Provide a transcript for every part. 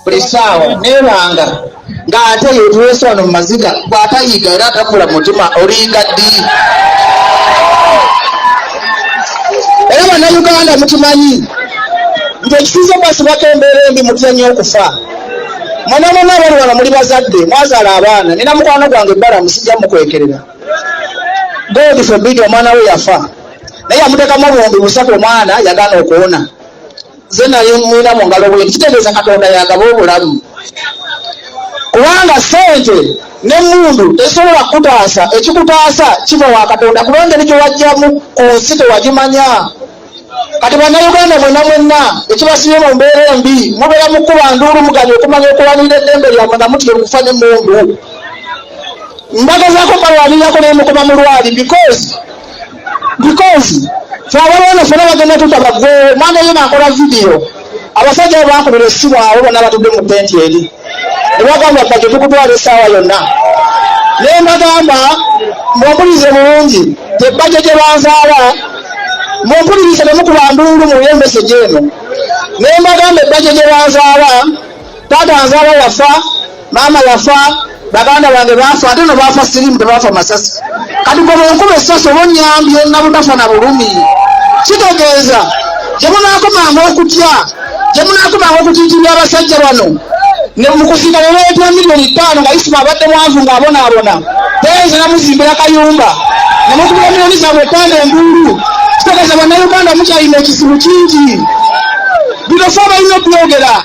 buli saawa nebanga nga ate yetuweesa wano mu maziga bwatayiga era atakula mutima olinga ddi era bannayuganda mukimanyi nti ekituuza okwasibako embeera embi mutya nnyo okufa mwenamwena abali wano muli bazadde mwazaala abaana nina mukwano gwange ebbala musijja mukwekerera God forbid omwana we yafa naye yamuteekamu obuwumbi busatu omwana yagana okuwona ze nali mwina mu ngalo bwe kitegeeza katonda yagaba obulamu kubanga sente nemundu tesobola kukutaasa ekikutaasa kiva wa katonda kuba engeri gyewajjamu ku nsi tewagimanya kati bannayuganda mwena mwenna ekibasibye mu mbeera embi mubeera mu kuba nduulu muganya okumanya okuwanira eddembe lyamwe nga mutya okufa ne mundu mbagezako mbalwanirako naye mukoma mulwali because because fe abalwana fena bagenda tutabagwe mwana yena akola vidiyo abasajja abo bankubira essimu abo bonna batudde mu tenti eri ne bagamba bajja tukutwala essaawa yonna ne mbagamba mumpulirize bulungi tebajja gye banzaala mumpulirize ne mukuba nduulu mu yembesegi eno ne mbagamba ebajja gye banzaala taata nzaala yafa maama yafa baganda bange baafa ate no baafa sirimu tebaafa masasi kati gwe bwenkuba essasi oba onyambye nabutafa na bulumi kitegeeza gye munaakomanga okutya gye munaakomanga okutiitibya abasajja bano mukuziika nebeetya miliyoni ttaano nga isima abadde mwanvu ng'abonaabona teeza namuzimbira kayumba nemukubira miliyoni zaabwe ttaano enduulu kitegeeza bannayuganda mukyalina ekizibu kingi bino fe abalina obyogera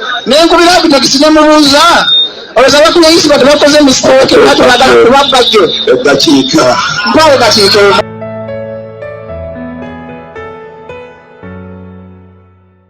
nenkubira ku takisi nemubuuza olowooza bakulu eyisibwa tebakoze misiteeke lwaki bagala kubabba gyo eddakiika mpawo dakiika emu